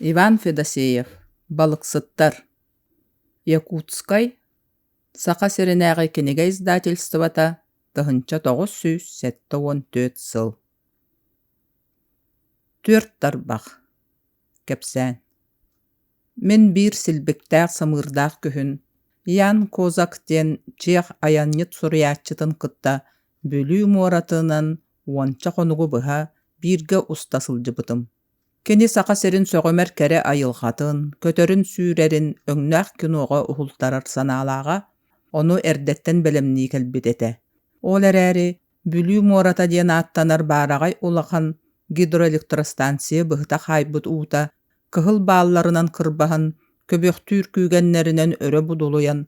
Иван Федосеев, балыксыттар, Якутскай, Саха сиринээҕи кинигэ издательствота, тыһыынча тоҕус сүүс сэттэ уон түөрт сыл. Түөрт тарбах. Кэпсээн. Мин биир силбиктээх самыырдаах күһүн Ян Козак диэн чиэх айанньыт суруйааччытын кытта Бүлүү муоратынан уонча хонугу быһа бииргэ уста сылдьыбытым. Кини Саха сирин сөҕүмэр кэрэ айылҕатын, көтөрүн сүүрэрин өҥнөөх киноҕа уһултарар санаалааҕа, ону эрдэттэн бэлэмнии кэлбит этэ. Ол эрээри Бүлүү муората диэн ааттанар баараҕай улахан гидроэлектростанция быһыта хаайбыт уута кыһыл баалларынан кырбаһан, көбүөхтүүр күүгэннэринэн өрө будулуйан,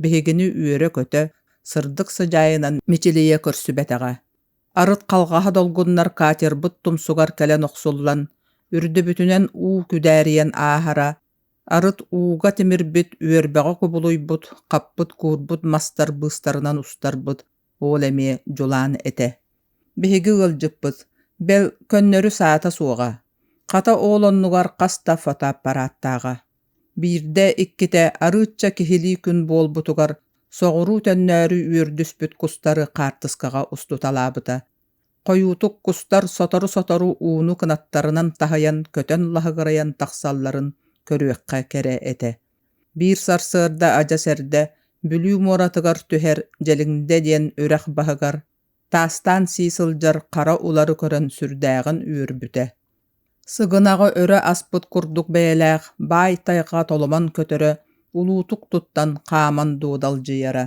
биһигини үөрэ-көтө, сырдык сыдьаайынан мичилийэ көрсүбэтэҕэ. Арыт халҕаһа долгуннар катербыт тумсугар кэлэн охсуллан, үрдүбүтүнэн уу күдээрийэн ааһара, арыт ууга тимирбит үөрбэҕэ кубулуйбут, хаппыт-куурбут мастар быыстарынан устарбыт уол эмиэ дьулаан этэ. Биһиги ыалдьыппыт, бэл, көннөрү саата суоҕа, хата, уол оннугар хас да фотоаппарааттааҕа. Биирдэ-иккитэ арыычча киһилии күн буолбутугар соҕуруу төннөөрү үөрдүспүт кустары хаартыскаҕа устуталаабыта. Хойуутук кустар сотору-сотору ууну кынаттарынан таһыйан көтөн лаһыгырайан тахсалларын көрүөххэ кэрэ этэ. Биир сарсыарда адьас эрдэ Бүлүү муоратыгар түһэр Дьэлиҥдэ диэн үрэх баһыгар таастаан сии сылдьар хара улары көрөн сүрдээҕин үөрбүтэ. Сыгынаҕы өрө аспыт курдук бэйэлээх баай тайҕа толомон көтөрө, улуутук туттан хааман дуодалдьыйара.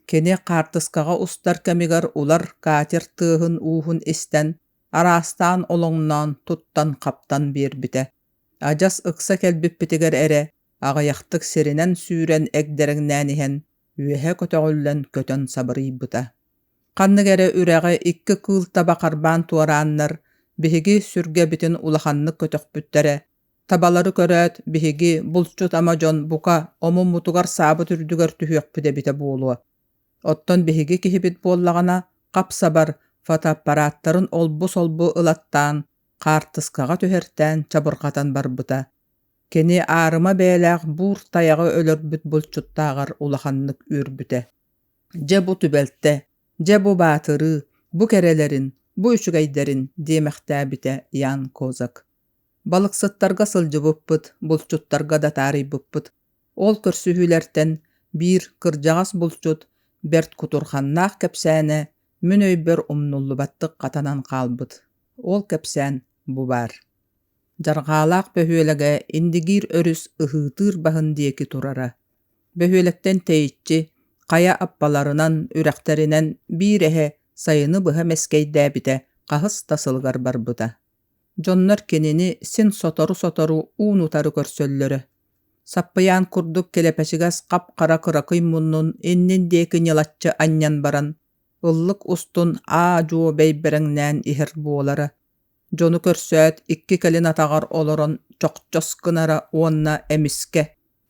Кини хаартыскаҕа устар кэмигэр улар катер тыаһын-ууһун истэн, араастаан олоҥноон, туттан-хаптан биэрбитэ. Адьас ыкса кэлбиппитигэр эрэ аҕыйахтык сиринэн сүүрэн эгдэрэҥнээн иһэн, үөһэ көтөҕүллэн көтөн сабырыйбыта. Ханнык эрэ үрэҕи икки кыыл таба харбаан туорааннар, биһиги сүргэбитин улаханнык көтөхпүттэрэ. Табалары көрөөт, биһиги булчут ама дьон бука омуммутугар саабыт үрдүгэр түһүөхпүт эбитэ буолуо. Оттон биһиги киһибит буоллаҕына, хап-сабар фотоаппараттарын олбу-солбу ылаттаан, хаартыскаҕа түһэртээн чабырҕатан барбыта. Кини аарыма бэйэлээх буур тайаҕы өлөрбүт булчуттааҕар улаханнык үөрбүтэ. дьэ бу түбэлтэ дьэ бу баатырыы бу кэрэлэрин бу үчүгэйдэрин диэмэхтээбитэ Ян Козак балыксыттарга сылдьыбыппыт булчуттарга да таарыйбыппыт ол көрсүһүүлэртэн биир кырдьаҕас булчут бэрт кутурханнаах кэпсээнэ мин өйбөр умнуллубаттык хатанан хаалбыт ол кэпсээн бу баар дьарҕаалаах бөһүөлэгэ индигиир өрүс ыһыытыыр баһын диэки турара бөһүөлэктэн тэйиччи хайа аппаларынан үрэхтэринэн биир эһэ сайыны быһа мэскэйдээбитэ хаһыс да сылыгар барбыта дьоннор кинини син сотору-сотору уун-утары көрсөллөрө саппыйаан курдук килэпэчигэс хап-хара кыракый муннун иннин диэки ньылаччы анньан баран ыллык устун аа-дьуо бэйбэрэҥнээн иһэр буолара дьону көрсөөт икки кэлин атаҕар олорон чохчос гынара уонна эмискэ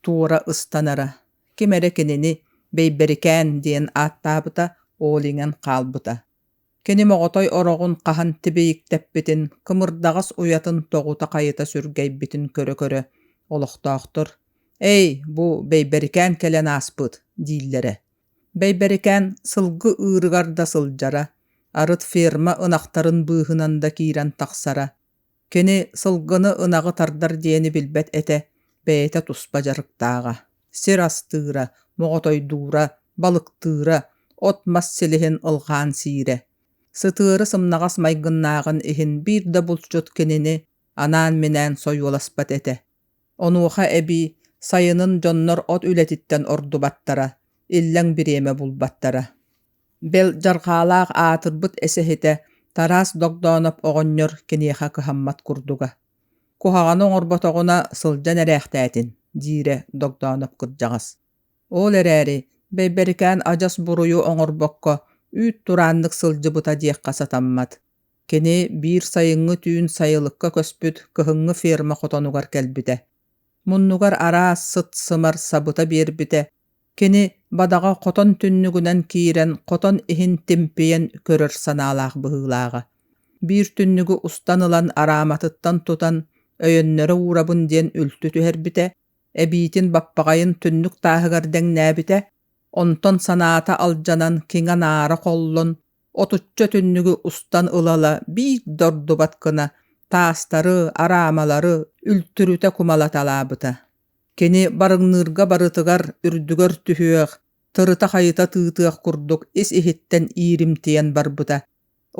туора ыстанара ким эрэ кинини бэйбэрикээн диэн ааттаабыта ол иҥэн хаалбыта кини моҕотой ороҕун хаһан тибийиктэппитин кымырдаҕас уйатын тоҕута-хайыта сүргэйбитин көрө-көрө олохтоохтор «Эй, бу бэйбэрикээн кэлэн ааспыт» дииллэрэ Бэйбэрикээн сылгы ыырыгар да сылдьара, арыт ферма ынахтарын быыһынан да киирэн тахсара. Кини сылгыны ынаҕы тардар диэни билбэт этэ, бэйэтэ туспа дьарыктааҕа. Сир астыыра, моҕотойдуура, балыктыыра, от-мас силиһин ылҕаан сиирэ. Сытыары сымнаҕас майгыннааҕын иһин биир да булчут кинини анаан-минээн сойуоласпат этэ. Онуоха эбии сайынын дьоннор от үлэтиттэн ордубаттара, иллэҥ бириэмэ булбаттара. Бэл дьарҕаалаах аатырбыт эсэһитэ Тараас Догдооноп оҕонньор киниэхэ кыһаммат курдуга. «Куһаҕаны оҥорботоҕуна сылдьан эрээхтээтин», диирэ Догдооноп кырдьаҕас. Ол эрээри Бэйбэрикээн адьас буруйу оҥорбокко үүт турааннык сылдьыбыта диэххэ сатаммат. Кини биир сайыҥҥы түүн сайылыкка көспүт кыһыҥҥы ферма хотонугар кэлбитэ. Муннугар араас сыт-сымар сабыта биэрбитэ. Кини бадаҕа хотон түннүгүнэн киирэн, хотон иһин тимпийэн көрөр санаалаах быһыылааҕа. Биир түннүгү устан ылан арааматыттан тутан, өйөннөрө уурабын диэн үлтү түһэрбитэ, эбиитин баппаҕайын түннүк тааһыгар дэҥнээбитэ, онтон санаата алдьанан киҥэ анаара холлон, отучча түннүгү устан ылала биир да ордубат гына таастары, араамалары үлтүрүтэ кумалаталаабыта. Кини барыҥныырга барытыгар үрдүгэр түһүөх, тырыта-хайыта тыытыах курдук ис-иһиттэн ииримтийэн барбыта.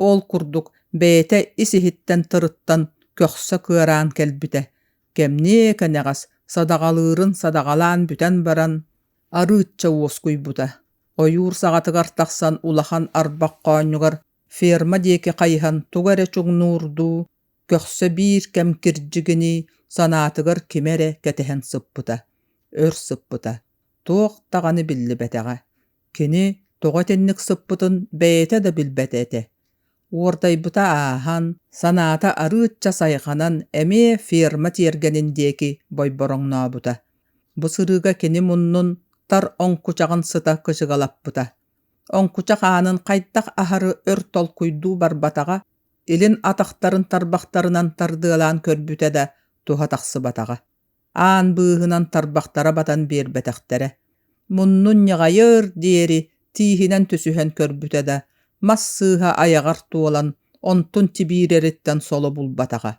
Ол курдук бэйэтэ ис-иһиттэн тырыттан көхсө кыараан кэлбитэ. Кэмниэ кэнэҕэс садаҕалыырын садаҕалаан бүтэн баран: арыычча уоскуйбута. Ойуур саҕатыгар тахсан улахан арбах хоонньугар ферма диэки хайыһан тугу эрэ чуҥнуурдуу, көхсө биир кэм кирдьигинии санаатыгар кими эрэ кэтэһэн сыппыта, өр сыппыта, туох даҕаны биллибэтэҕэ. Кини тоҕо итинник сыппытын бэйэтэ да билбэтэ этэ. Уордайбыта ааһан, санаата арыычча сайҕанан эмиэ ферма тиэргэнин диэки бойбороҥнообута. Бу сырыыга кини муннун тар оҥкучаҕын сыта кычыгалаппыта. Оҥкучах аанын хайдах аһары өр толкуйдуу барбатаҕа, илин атахтарын тарбахтарынан тардыалаан көрбүтэ да туһа тахсыбатаҕа. аан быыһынан тарбахтара батан биэрбэтэхтэрэ муннун ньаҕайыар диэри тииһинэн түсүһэн көрбүтэ да мас сыыһа айаҕар туолан онтун тибиирэриттэн соло булбатаҕа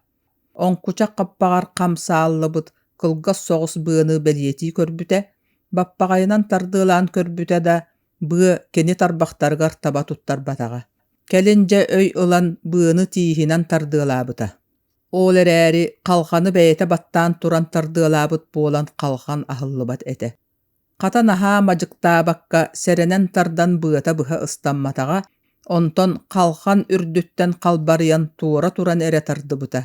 оҥкучах хаппаҕар хам сааллыбыт кылгас соҕус быаны бэлиэтии көрбүтэ баппаҕайынан тардыалаан көрбүтэ да быа кини тарбахтарыгар таба туттарбатаҕа кэлин дьэ өй ылан быаны тииһинэн тардыалаабыта Ол эрээри халханы бэйэтэ баттаан туран тардыалаабыт буолан халхан аһыллыбат этэ. Хата наһаа мадьыктаабакка сэрэнэн тардан быата быһа ыстамматаҕа, онтон халхан үрдүттэн халбарыйан туора туран эрэ тардыбыта.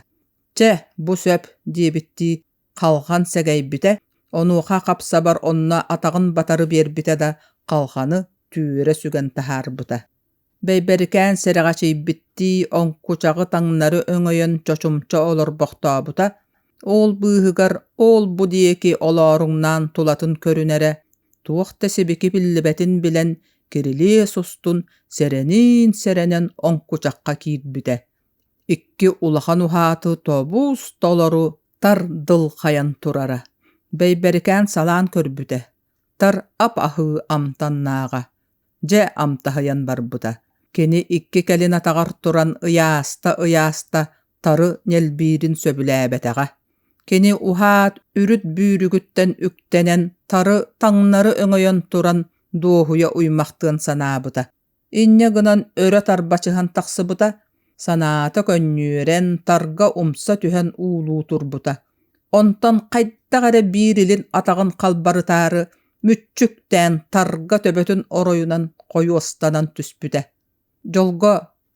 «Чэ, бу сөп» диэбиттии халхан сэгэйбитэ, онуоха хапсабар онно атаҕын батары биэрбитэ да халханы түүрэ сүгэн таһаарбыта. Бэйбэрикээн сэрэҕэчийбиттии оҥкучаҕы таҥнары өҥөйөн чочумча олорбохтообута, уол быыһыгар уол-бу диэки олооруҥнаан тулатын көрүнэрэ, туох да сибики биллибэтин билэн, кирилиэс устун сэрэниин сэрэнэн оҥкучахха киирбитэ. Икки улахан уһааты тобуус толору тардылхайан турара. Бэйбэрикээн салаан көрбүтэ, тар ап-аһыы амтаннааҕа. дьэ амтаһыйан барбыта кини икки кэлин атаҕар туран ыйааста-ыйаста тары нэлбиирин сөбүлээбэтэҕэ кини уһаат үрүт бүүрүгүттэн үктэнэн тары таҥнары өҥөйөн туран дуоһуйа уймахтыан санаабыта инньэ гынан өрө тарбачыһан тахсыбыта санаата көнньүөрэн тарга умса түһэн уулуу турбута онтон хайдах эрэ биир илин атаҕын халбарытаары мүччүктээн тарга төбөтүн оройунан хойуостанан түспүтэ дьолго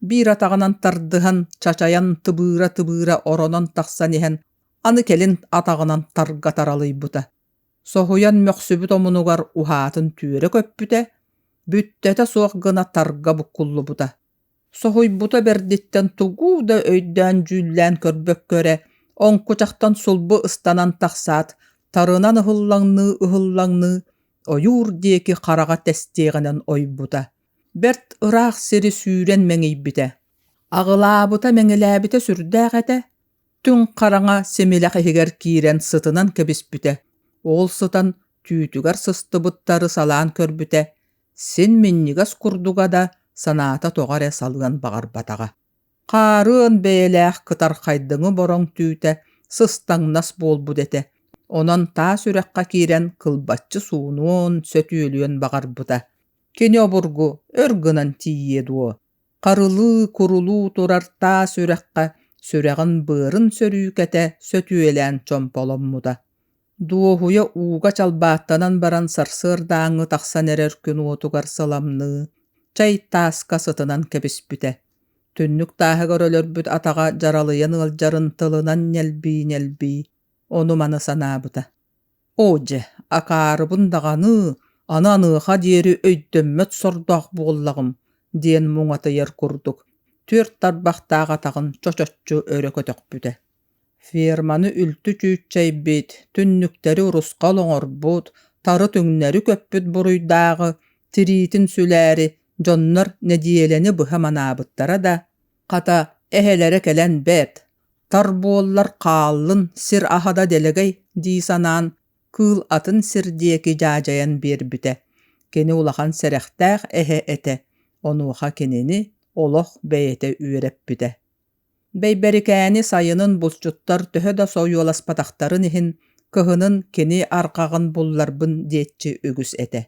биир атаҕынан тардыһан чачайан тыбыыра тыбыыра оронон тахсан иһэн аны кэлин атаҕынан тарга таралыйбыта соһуйан мөхсүбүт омунугар уһаатын түөрэ көппүтэ бүттэтэ суох гына тарга буккуллубута Соһуйбута бэрдиттэн тугу да өйдөөн-дьүүллээн көрбөккө эрэ, оҥкучахтан сулбу ыстанан тахсаат, тарынан ыһыллаҥныы-ыһыллаҥныы, ойуур диэки хараҕа тэстиэҕинэн ойбута. Бэрт ыраах сири сүүрэн мэҥийбитэ. Аҕылаабыта-мэҥилээбитэ сүрдээх этэ, түҥ хараҥа симилэх иһигэр киирэн сытынан кэбиспитэ. Ол сытан түүтүгэр сыстыбыттары салаан көрбүтэ, син минньигэс курдуга да санаата тоҕо эрэ салыан баҕарбатаҕа хаарыан бэйэлээх кытархайдыҥы бороҥ түүтэ сыстаҥнас буолбут этэ онон таас үрэххэ киирэн кылбаччы суунуон сөтүөлүөн баҕарбыта кини обургу өр гынан тиийиэ дуо харылыы курулуу турар таас үрэххэ сүрэҕин быарын сөрүүкэтэ сөтүөлээн чомполоммута дуоһуйа ууга чалбааттанан баран сарсыардааҥҥы тахсан эрэр күн уотугар сыламныы чай тааска сытынан кэбиспитэ түннүк тааһыгар өлөрбүт атаҕа дьаралыйан ыалдьарын тылынан ньэлбии ньэлбии ону-маны санаабыта оо дьэ акаарыбын даҕаны аны аныаха диэри өйдөммөт сордоох буоллаҕым диэн муҥатыйар курдук түөрт тарбахтаах атаҕын чочоччу өрө көтөхпүтэ ферманы үлтү чүүччэйбит түннүктэри урусхал оҥорбут тары түҥнэри көппүт буруйдааҕы тириитин сүлээри дьоннор нэдиэлэни быһа манаабыттара да хата эһэлэрэ кэлэн бэрт тар буоллар хааллын сир аһа да дэлэгэй дии санаан кыыл атын сир диэки дьаадьайан биэрбитэ кини улахан сэрэхтээх эһэ этэ онуоха кинини олох бэйэтэ үөрэппитэ Бэйбэрикээни сайынын булчуттар төһө да сойуоласпатахтарын иһин, кыһынын кини арҕаҕын булларбын диэччи үгүс этэ.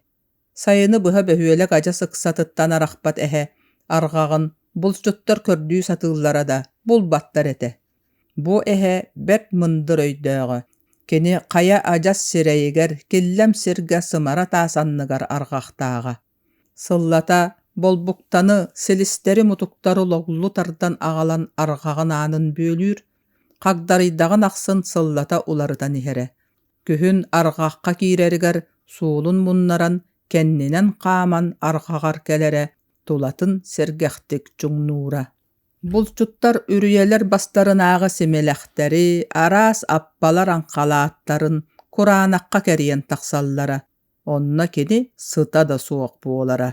Сайыны быһа бөһүөлэк адьас ыксатыттан арахпат эһэ арҕаҕын булчуттар көрдүү сатыыллара да булбаттар этэ. Бу эһэ бэрт мындыр өйдөөҕө, кини хайа адьас сирэйигэр, киллэм сиргэ сымара таас анныгар арҕахтааҕа. сыллата болбуктаны силистэри-мутуктары логлу тардан аҕалан арҕаҕын аанын бүөлүүр хагдарыйдаҕын ахсын сыллата уларытан иһэрэ күһүн арҕахха киирэригэр суолун муннаран кэннинэн хааман арҕаҕар кэлэрэ тулатын сэргэхтик чуҥнуура булчуттар үрүйэлэр бастарынааҕы симэлэхтэри араас аппалар аҥхалааттарын кураанахха кэрийэн тахсаллара Онно кини сыта да суох буолара.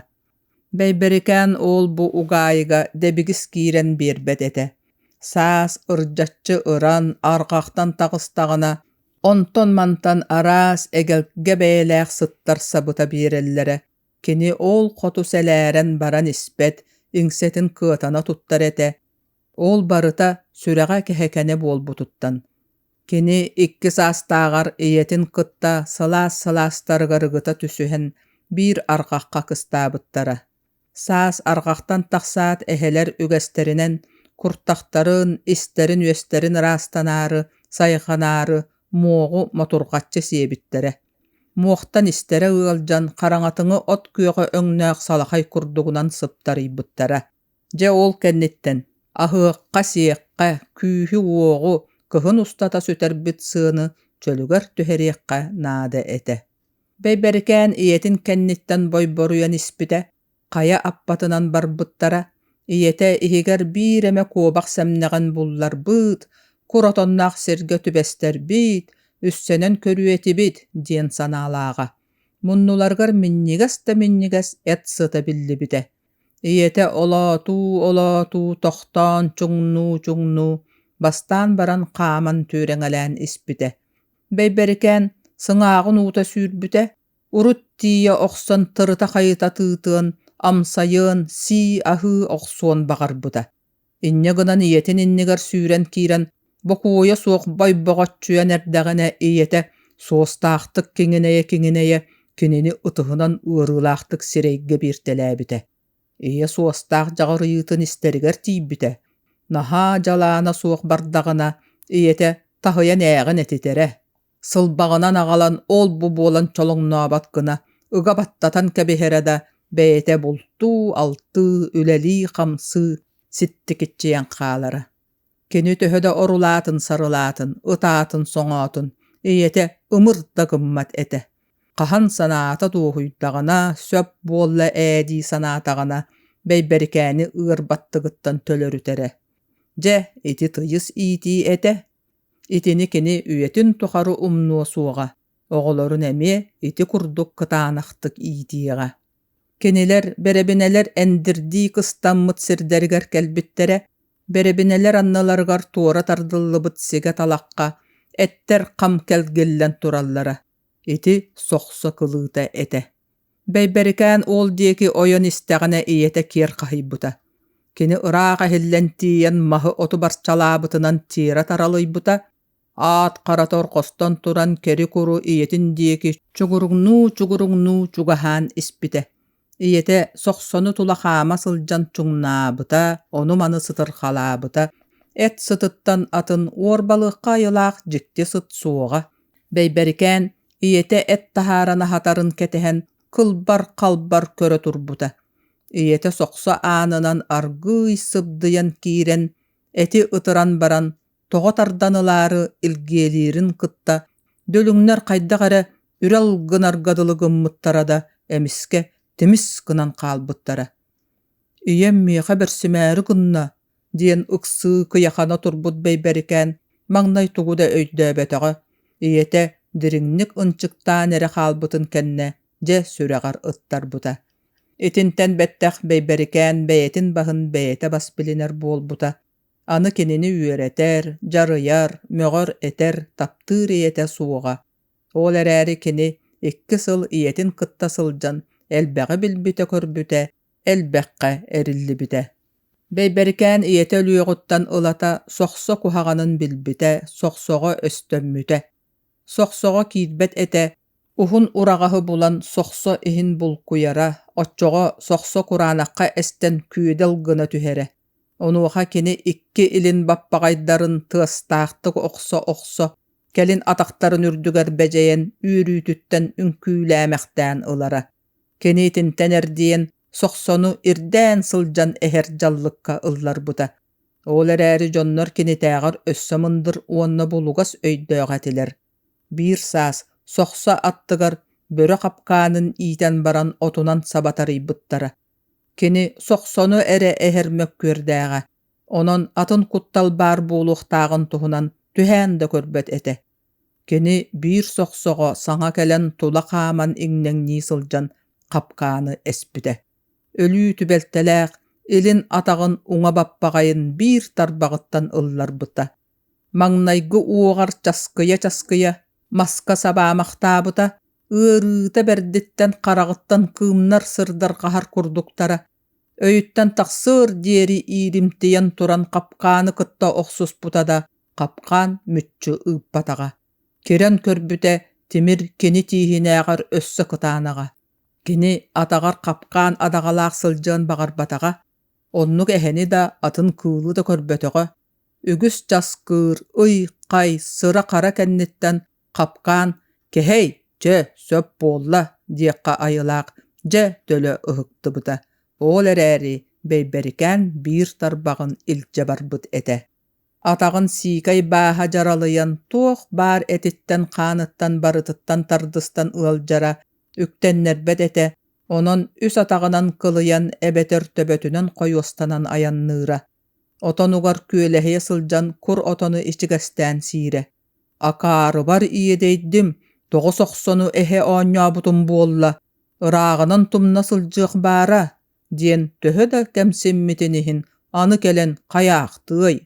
Бэйбэрикээн уол-бу угаайыга дэбигис киирэн биэрбэт этэ. Саас ырдьаччы ыран арҕахтан таҕыстаҕына, онтон-мантан араас эгэлгэ бэйэлээх сыттарсабыта биэрэллэрэ. Кини ол хоту сэлээрэн баран испэт, иҥсэтин кыатана туттар этэ. Ол барыта сүрэҕэ кэһэкэнэ буолбутуттан, кини икки саастааҕар ийэтин кытта сылаас-сылаастарыгар ыгыта түсүһэн биир арҕахха кыстаабыттара. Саас арҕахтан тахсаат эһэлэр үгэстэринэн куртахтарын, истэрин-үөстэрин ыраастанаары, сайҕанаары муоҕу мотурҕаччы сиэбиттэрэ. Муохтан истэрэ ыалдьан хараҥатыҥы от күөҕэ өҥнөөх салахай курдугунан сыптарыйбыттара. Дьэ ол кэнниттэн аһыахха-сиэххэ, күүһү-уоҕу, кыһын устата сүтэрбит сыаны чөлүгэр түһэриэххэ наада этэ. Бэйбэрикээн ийэтин кэнниттэн бойборуйан испитэ, хайа аппатынан барбыттара, ийэтэ иһигэр биир эмэ куобах сэмнэҕин булларбыт, кур отонноох сиргэ түбэстэрбит, үссэнэн көрүө этибит диэн санаалааҕа. Муннуларыгар минньигэс да минньигэс эт сыта биллибитэ. ийэтэ олоотуу-олоотуу тохтоон чуҥнуу-чуҥнуу бастаан баран хааман түөрэҥэлээн испитэ бэйбэрикээн сыҥааҕын уута сүүрбүтэ урут тиийэ охсон тырыта-хайыта тыытыан амсайыан сии аһыы охсуон баҕарбыта инньэ гынан ийэтин иннигэр сүүрэн киирэн бокуойа суох бойбоҕоччуйан эрдэҕинэ ийэтэ суостаахтык киҥинэйэ-киҥинэйэ кинини ытыһынан ыарыылаахтык сирэйгэ бииртэлээбитэ ийэ суостаах дьаҕырыйыытын истэригэр тиийбитэ наһаа дьалаана суох бардаҕына ийэтэ таһыйан ээҕин этитэрэ сылбаҕынан аҕалан ол-бу буолан чолоҥнообот гына ыга баттатан кэбиһэрэ да бэйэтэ бултуу, алтыы, үлэлии-хамсыы, ситтикиччийэн хаалара. Кини төһө да орулаатын-сарылаатын, ытаатын-соҥоотун, ийэтэ ымыр да гыммат этэ. Хаһан санаата дуоһуйдаҕына, сөп буолла ээ дии санаатаҕына, Бэйбэрикээни ыар баттыгыттан төлөрүтэрэ. Дьэ, ити тыйыс иитии этэ, Итини кини үйэтин тухары умнуо суоҕа, оҕолорун эмиэ ити курдук кытаанахтык иитиэҕэ. Кинилэр бэрэбинэлэр эндирдии кыстаммыт сирдэригэр кэлбиттэрэ, бэрэбинэлэр анналарыгар туора тардыллыбыт сигэ-талахха эттэр хам кэлгиллэн тураллара, ити сохсо кылыыта этэ. Бэйбэрикээн уол диэки ойон истэҕинэ ийэтэ киэр хаһыйбыта. Кини ыраах эһиллэн тиийэн маһы оту барчалаабытынан тиэрэ таралыйбыта, аат харатор хостон туран кэри-куру ийэтин диэки чугуруҥнуу-чугуруҥнуу чугаһаан испитэ. Ийэтэ сохсону тула хаама сылдьан чуҥнаабыта, ону-маны сытырхалаабыта. Эт сытыттан атын уор балыахха айылаах дьикти сыт суоҕа. Бэйбэрикээн ийэтэ эт таһааран аһатарын кэтэһэн кылбар-халбар көрө турбута. Ийэтэ сохсо аанынан аргыый сыбдыйан киирэн, эти ытыран баран, тоҕо тардан ылаары илгиэлиирин кытта, дүлүҥнэр хайдах эрэ үрэл гынарга дылы гыммыттара да эмискэ тимис гынан хаалбыттара. Ийэм миэхэ бэрсимээри гынна, диэн ыксыы кыйахана турбут бэйбэрикээн маҥнай тугу да өйдөөбөтөҕө ийэтэ дириҥник ынчыктаан эрэ хаалбытын кэннэ дьэ сүрэҕэр ыттарбыта итинтэн бэттэх бэйбэрикээн бэйэтин баһын бэйэтэ бас билинэр буолбута аны кинини үөрэтэр дьарыйар мөҕөр этэр таптыыр ийэтэ суоҕа ол эрээри кини икки сыл ийэтин кытта сылдьан элбэҕи билбитэ көрбүтэ элбэххэ эриллибитэ Бэйбэрикээн ийэтэ өлүөҕүттэн ылата сохсо куһаҕанын билбитэ, сохсоҕо өстөммүтэ. Сохсоҕо киирбэт этэ, уһун ураҕаһы булан сохсо иһин булкуйара, оччоҕо сохсо кураанахха эстэн күөдэл гына түһэрэ. Онуоха кини икки илин баппаҕайдарын тыастаахтык охсо-охсо, кэлин атахтарын үрдүгэр бэдьэйэн үөрүүтүттэн үҥкүүлээмэхтээн ылара. Киниитинтэн эрдийэн Сохсону ирдээн сылдьан иһэр дьаллыкка ылларбыта. Ол эрээри дьоннор кинитээҕэр өссө мындыр уонна булугас өйдөөх этилэр. Биир саас Сохсо аттыгар бөрө хапкаанын иитэн баран отунан саба тарыйбыттара. Кини Сохсону эрэ иһэр мөккүөрдээҕэ, онон атын куттал баар буолуохтааҕын туһунан түһээн да көрбөт этэ. кини биир сохсоҕо саҥа кэлэн тула хааман иҥнэҥнии сылдьан хапкааны эспитэ өлүү түбэлтэлээх илин атаҕын уҥа баппаҕайын биир тарбаҕыттан ылларбыта маҥнайгы уоҕар часкыйа-часкыйа маска сабаамахтаабыта ыарыыта бэрдиттэн хараҕыттан кыымнар сырдарҕаһар курдуктара өйүттэн тахсыар диэри ииримтийэн туран хапкааны кытта охсуспута да хапкаан мүччү ыыппатаҕа кирэн көрбүтэ тимир кини тииһинээҕэр өссө кытаанаҕа кини атаҕар хапкаан адаҕалаах сылдьыан баҕарбатаҕа оннук эһэни да атын кыылы да көрбөтөҕө үгүс часкыыр ый хай сыра хара кэнниттэн хапкаан кэһэй чэ сөп буолла диэххэ айылаах дьэ төлө ыһыктыбыта ол эрээри бэйбэрикээн биир тарбаҕын илдьэ барбыт этэ атаҕын сиикэй бааһа дьаралыйан туох баар этиттэн хааныттан барытыттан тардыстан ыалдьара үктэннэрбэт этэ онон үс атаҕынан кылыйан эбэтэр төбөтүнэн хойуостанан айанныыра отонугар күөлэһийэ сылдьан кур отону ичигэстээн сиирэ акаарыбар иэдэйдим тоҕус охсону эһэ оонньообутум буолла ырааҕынан тумна сылдьыах баара диэн төһө да кэмсиммитин иһин аны кэлэн хайаахтыай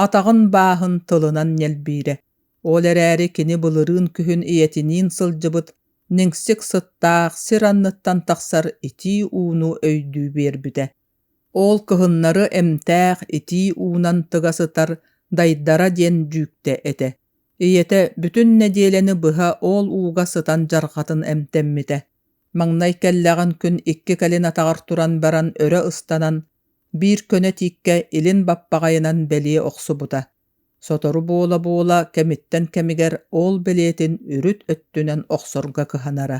атаҕын бааһын тылынан ньэлбиирэ ол эрээри кини былырыын күһүн ийэтиниин сылдьыбыт ниҥсик сыттаах сир анныттан тахсар итии ууну өйдүү биэрбитэ ол кыһыннары эмтээх итии уунан тыга сытар дайдара диэн дьүүктэ этэ ийэтэ бүтүн нэдиэлэни быһа ол ууга сытан дьарҕатын эмтэммитэ Маҥнай кэллэҕин күн икки кэлин атаҕар туран баран өрө ыстанан, биир көнө тииккэ илин баппаҕайынан бэлиэ охсубута, сотору буола-буола кэмиттэн кэмигэр ол бэлиэтин үрүт өттүнэн охсорго кыһанара.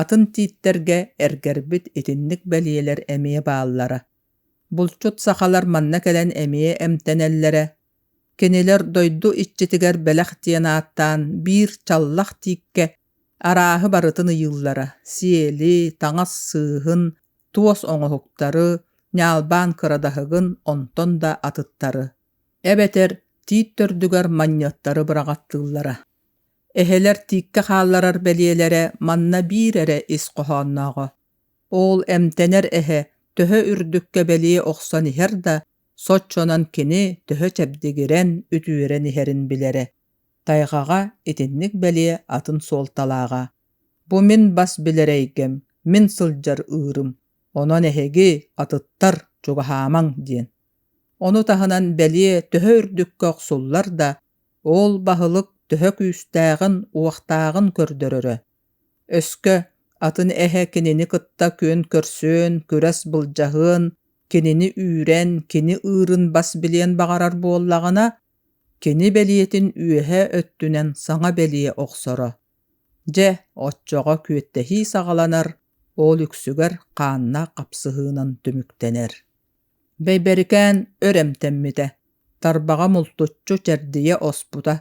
Атын тииттэргэ эргэрбит итинник бэлиэлэр эмиэ бааллара. Булчут сахалар манна кэлэн эмиэ эмтэнэллэрэ, Кинилэр дойду иччитигэр бэлэх диэн ааттаан биир чаллах тииккэ арааһы барытын ыйыыллара: сиэли, таҥас сыыһын, туос оҥоһуктары, ньаалбаан кырадаһыгын онтон да атыттары, эбэтэр тиит төрдүгэр манньыаттары быраҕаттыыллара. Эһэлэр тииккэ хаалларар бэлиэлэрэ манна биир эрэ ис хоһооннооҕо: Оол эмтэнэр эһэ төһө үрдүккэ бэлиэ охсон иһэр да, соччонон кини төһө чэбдигирэн, үтүөрэн иһэрин билэрэ. Тайҕаҕа итинник бэлиэ атын суолталааҕа. Бу мин бас билэр эйгэм, мин сылдьар ыырым, онон эһиги атыттар чугаһаамаҥ диэн. Ону таһынан бэлиэ төһө үрдүккэ охсуллар да, оол баһылык төһө күүстээҕин-уохтааҕын көрдөрөрө. өскө атын эһэ кинини кытта күөн көрсүөн күрэс былдьаһыан кинини үүрэн кини ыырын бас билиэн баҕарар буоллаҕына кини бэлиэтин үөһэ өттүнэн саҥа бэлиэ охсоро дьэ оччоҕо күөттэһии саҕаланар ол үксүгэр хаанна хапсыһыынан түмүктэнэр Бэйбэрикээн өр эмтэммитэ, тарбаҕа мултуччу чэрдийэ оспута,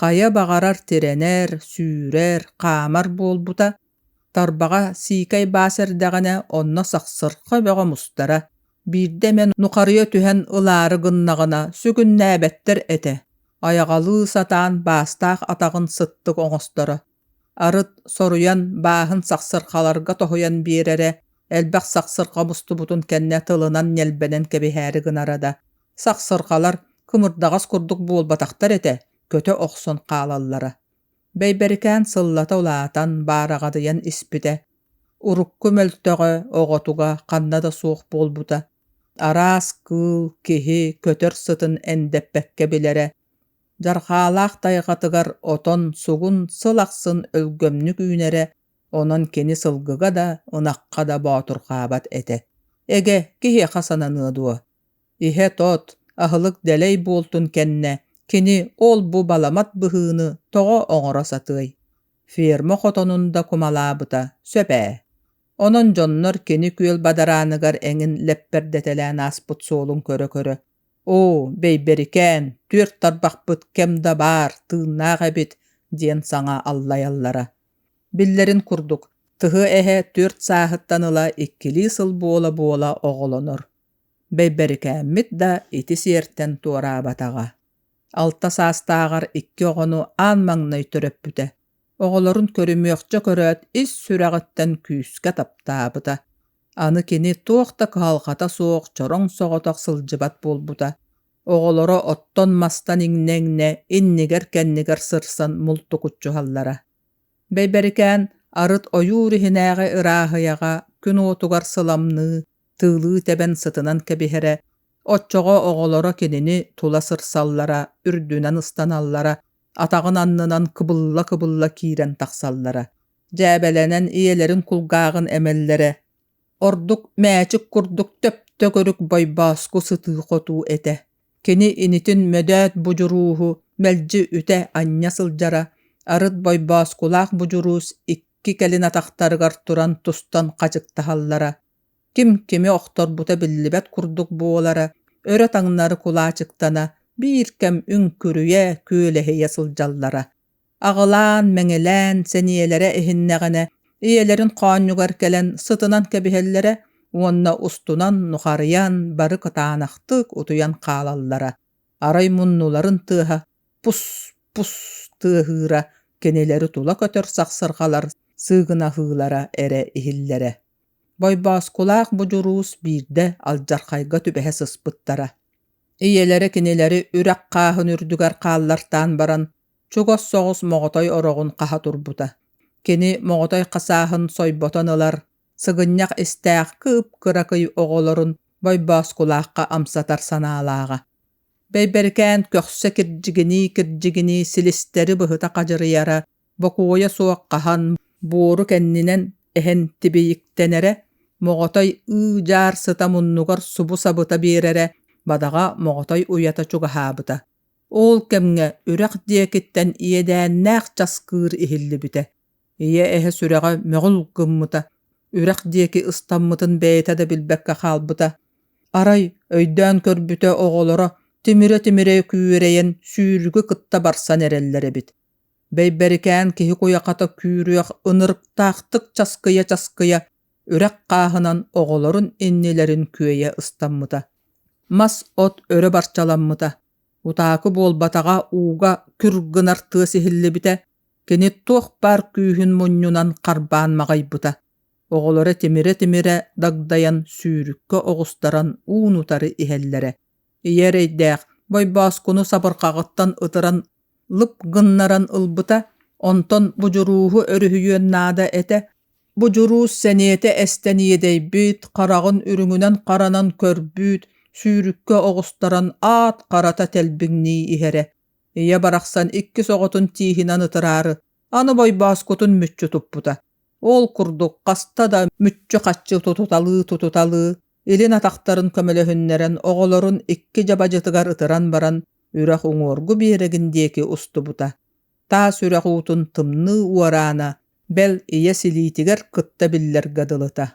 хайа баҕарар тирэнэр, сүүрэр, хаамар буолбута, тарбаҕа сиикэй баас эрдэҕинэ онно сахсырха бөҕө мустара, биирдэ эмэ нухарыйа түһэн ылаары гыннаҕына сүгүннээбэттэр этэ, айаҕалыы сатаан баастаах атаҕын сыттык оҥосторо. Арыт соруйан, бааһын сахсырхаларга тоһуйан биэрэрэ, элбэх сахсырха мустубутун кэннэ тылынан ньэлбэнэн кэбиһээри гынара да, сахсырхалар кымырдаҕас курдук буолбатахтар этэ, көтө охсон хаалаллара. Бэйбэрикээн сыллата улаатан, баараҕадыйан испитэ, урукку мөлтөҕө оҕотуга ханна да суох буолбута, араас кыыл, киһи көтөр сытын эндэппэккэ билэрэ, Дьархаалаах тайҕатыгар отон сугун сыл ахсын өлгөмнүк үүнэрэ, онон кини сылгыга да, ынахха да боотурхаабат этэ. Эгэ, киһиэхэ сананыа дуо? Иһэ-тот, аһылык дэлэй буолтун кэннэ, кини ол-бу баламат быһыыны тоҕо оҥоро сатыай? Ферма хотонун да кумалаабыта сөп ээ. Онон дьоннор кини күөл бадарааныгар эҥин лэппэрдэтэлээн ааспыт суолун көрө-көрө оо бэйбэрикээн түөрт тарбахпыт кэм да баар тыыннаах эбит диэн саҥа аллайаллара биллэрин курдук тыһы-эһэ түөрт сааһыттан ыла иккилии сыл буола-буола оҕолонор бэйбэрикээммит да ити сиэртэн туораабатаҕа алта саастааҕар икки оҕону аан маҥнай төрөппүтэ оҕолорун көрүмүөхчэ көрөөт ис сүрэҕиттэн күүскэ таптаабыта Аны кини туох да кыһалҕата суох чороҥ соҕотох сылдьыбат буолбута. Оҕолоро оттон-мастан иҥнэ-иҥнэ иннигэр-кэннигэр сырсан мултукуччуһаллара. Бэйбэрикээн арыт ойуур иһинээҕи ырааһыйаҕа күн уотугар сыламныы, тыылыы тэбэн сытынан кэбиһэрэ, оччоҕо оҕолоро кинини тула сырсаллара, үрдүнэн ыстаналлара, атаҕын аннынан кыбылла-кыбылла киирэн тахсаллара. дьээбэлэнэн ийэлэрин кулгааҕын эмэллэрэ ордук мээчик курдук төптөгүрүк бойбооску сытыы-хотуу этэ кини инитин мөдөөт будьурууһу мэлдьи үтэ анньа сылдьара арыт бойбооскулаах будьуруус икки кэлин атахтарыгар туран тустан хачыктаһаллара ким кими охторбута биллибэт курдук буолара өрө таҥнары кулаачыктана биир кэм үҥкүрүйэ күөлэһийэ сылдьаллара аҕылаан-мэҥилээн сэниэлэрэ иһиннэҕинэ ийэлэрин хоонньугар кэлэн сытынан кэбиһэллэрэ уонна устунан нухарыйан бары кытаанахтык утуйан хаалаллара арай муннуларын тыаһа пус-пус тыаһыыра кинилэри тула көтөр сахсырҕалар сыыгынаһыылара эрэ иһиллэрэ Бойбооскулаах будьуруус биирдэ алдьархайга түбэһэ сыспыттара ийэлэрэ кинилэри үрэх хааһын үрдүгэр хааллартаан баран чугас соҕус моҕотой ороҕун хаһа турбута кини моҕотой хасааһын сойботон ылар сыгынньах истээх кып-кыракый оҕолорун Бойбооскулаахха амсатар санаалааҕа бэйбэркээн көхсө кирдьигинии-кирдьигинии силистэри быһыта хадьырыйара бокуойа суох хаһан буору кэннинэн эһэн тибийиктэнэрэ моҕотой ыы-дьаар сыта муннугар субу сабыта биэрэрэ бадаҕа моҕотой уйата чугаһаабыта Ол кэмҥэ үрэх диэкиттэн иэдээннээх часкыыр иһиллибитэ. Ийэ эһэ сүрэҕэ мөҕүл гыммыта, үрэх диэки ыстаммытын бэйэтэ да билбэккэ хаалбыта. Арай өйдөөн көрбүтэ оҕолоро тимирэ-тимирэ күүрэйэн сүүрүгү кытта барсан эрэллэр эбит. Бэйбэрикээн киһи куйахата күүрүөх ынырыктаахтык часкыйа-часкыйа үрэх хааһынан оҕолорун иннилэрин күөйэ ыстаммыта мас от өрө барчаламмыта утаакы буолбатаҕа ууга күр гынар тыас иһиллибитэ кини туох баар күүһүн мунньунан харбаан маҕайбыта оҕолоро тимирэ-тимирэ дагдайан сүүрүккэ оҕустаран уун утары иһэллэрэ Ийэ эрэйдээх Бойбооскуну сабырҕаҕыттан ытыран лып гыннаран ылбыта, онтон будьурууһу өрүһүйүөн наада этэ, будьуруус сэниэтэ эстэн иэдэйбит, хараҕын үрүҥүнэн харанан көрбүүт, сүүрүккэ оҕустаран аат харата тэлбиҥнии иһэрэ. Ийэ барахсан иккис оҕотун тииһинэн ытыраары аны Бойбооскутун мүччү туппута. Ол курдук хаста да мүччү-хаччы тутуталыы-тутуталыы илин атахтарын көмөлөһүннэрэн оҕолорун икки дьабадьытыгар ытыран баран үрэх уҥуоргу биэрэгин диэки устубута таас үрэх уутун тымныы уораана бэл ийэ силиитигэр кытта биллэргэ дылыта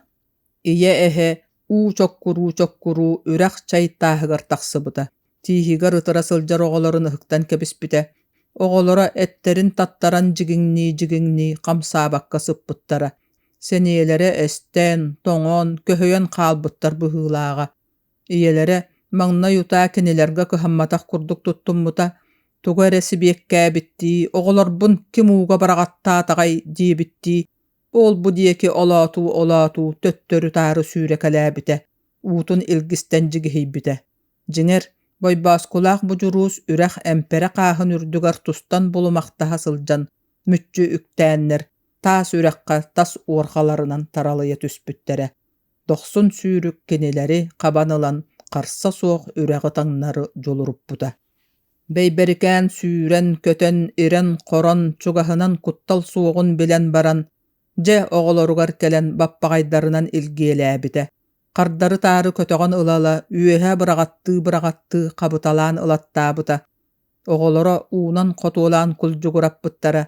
ийэ эһэ уу чоккуруу чоккуруу үрэх чай тааһыгар тахсыбыта тииһигэр ытыра сылдьар оҕолорун ыһыктан кэбиспитэ, оҕолоро эттэрин таттаран дьигиҥнии-дьигиҥнии хамсаабакка сыппыттара, сэниэлэрэ эстэн, тоҥон, көһөйөн хаалбыттар быһыылааҕа. Ийэлэрэ маҥнай утаа кинилэргэ кыһамматах курдук туттуммута, тугу эрэ сибиэккээбиттии оҕолорбун ким ууга быраҕаттаатаҕай диэбиттии, ол-бу диэки олоотуу-олоотуу төттөрү-таары сүүрэкэлээбитэ, уутун илгистэн дьигиһийбитэ. Дьиҥэр, Бойбооскулаах будьуруус үрэх эмпэрэ хааһын үрдүгэр тустан булумахтаһа сылдьан мүччү үктээннэр, таас үрэххэ тас уорҕаларынан таралыйа түспүттэрэ, дохсун сүүрүк кинилэри хабан ылан харса суох үрэҕи таҥнары дьулуруппута. Бэйбэрикээн сүүрэн, көтөн, ирэн-хорон, чугаһынан куттал суоҕун билэн баран, дьэ оҕолоругар кэлэн баппаҕайдарынан илгиэлээбитэ, хардары-таары көтөҕөн ыла-ыла үөһэ быраҕаттыы-быраҕаттыы хабыталаан ылаттаабыта. Оҕолоро уунан-хотуолаан кулдьугураппыттара,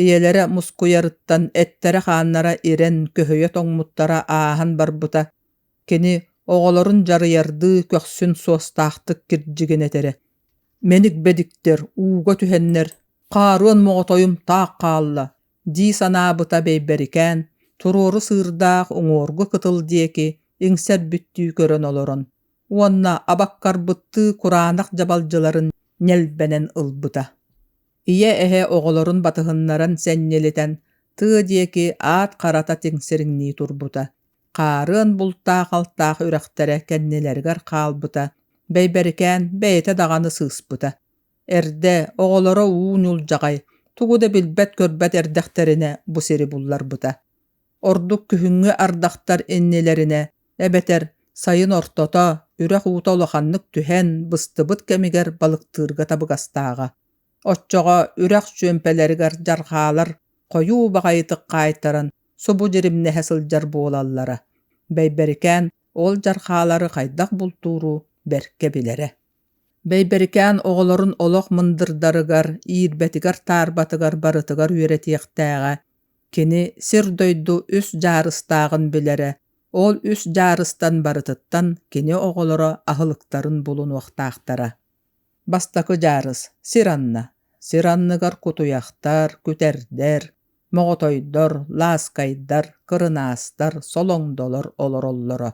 ийэлэрэ мускуйарыттан эттэрэ-хааннара ирэн көһүйэ тоҥмуттара ааһан барбыта. Кини оҕолорун дьарыйардыы көхсүн суостаахтык кирдьигинэтэрэ. Мэник бэдиктэр, ууга түһэннэр, хааруон моҕотойум таах хаалла, дии санаабыта бэйбэрикээн туруору сыырдаах уҥуоргу кытыл диэки иҥсэрбиттии көрөн олорон уонна абаккарбыттыы кураанах дьабалдьыларын ньэлбэнэн ылбыта ийэ эһэ оҕолорун батыһыннаран сэнньэлитэн тыа диэки аат харата тиҥсириҥнии турбута хаарыан бултаах алтаах үрэхтэрэ кэннилэригэр хаалбыта бэйбэрикээн бэйэтэ даҕаны сыыспыта Эрдэ, оҕолоро уу ньулдьаҕай, тугу да билбэт-көрбөт эрдэхтэринэ бу сири булларбыта. Ордук күһүҥҥү ардахтар иннилэринэ, эбэтэр сайын ортото, үрэх уута улаханнык түһэн, быстыбыт кэмигэр балыктыырга табыгастааҕа. Оччоҕо үрэх чүөмпэлэригэр дьарҕаалар хойуу баҕайытык хаайтаран, субу дьиримнэһэ сылдьар буолаллара. Бэйбэрикээн ол дьарҕаалары хайдах бултууру бэркэ билэрэ. Бэйбэрикээн оҕолорун олох мындырдарыгар, иирбэтигэр-таарбатыгар барытыгар үөрэтиэхтээҕэ, кини сир-дойду үс дьаарыстааҕын билэрэ, ол үс дьаарыстан барытыттан кини оҕолоро аһылыктарын булунуохтаахтара. Бастакы дьаарыс – сир анна. Сир анныгар кутуйахтар, күтэрдэр, моҕотойдор, лааскайдар, кырынаастар, солоҥдолор олороллоро.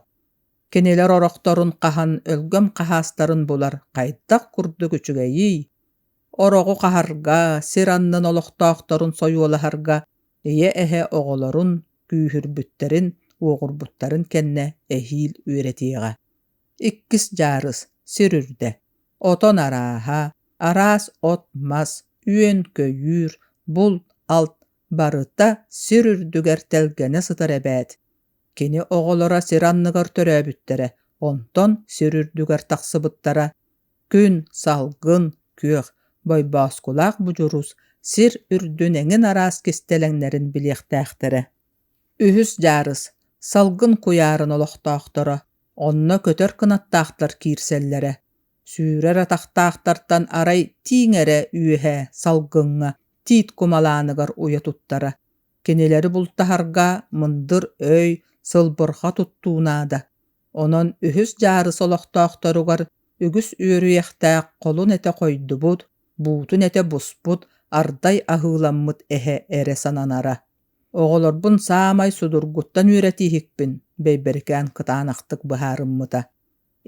Кинилэр орохторун хаһан өлгөм хаһаастарын булар хайдах курдук үчүгэйий? Ороҕу хаһарга, сир аннын олохтоохторун сойуолаһарга ийэ-эһэ оҕолорун күүһүрбүттэрин, уоҕурбуттарын кэннэ эһиил үөрэтиэҕэ. Иккис дьаарыс сир үрдэ. Отон арааһа, араас от-мас, үөн-көйүүр, булт-алт Барыта сир үрдүгэр тэлгэнэ сытар эбээт, кини оҕолоро сир анныгар төрөөбүттэрэ, онтон сир үрдүгэр тахсыбыттара. Күн, салгын, күөх, бойбооскулаах будьурус сир үрдүн эҥин араас кистэлэҥнэрин билиэхтээхтэрэ. Үһүс дьаарыс салгын куйаарын олохтоохторо онно көтөр кынаттаахтар киирсэллэрэ. Сүүрэр атахтаахтартан арай тииҥ эрэ үөһэ салгыҥҥа тиит кумалааныгар уйа туттара. Кинилэри бултаһарга мындыр өй, сылбырҕа туттуу наада. Онон үһүс дьаарыс олохтоохторугар үгүс үөрүйэхтээх холун этэ хойдубут, буутун этэ буспут, ардай аһыыламмыт эһэ эрэ сананара. Оҕолорбун саамай судургуттан үөрэтииһикпин, Бэйбэрикээн кытаанахтык быһаарыммыта.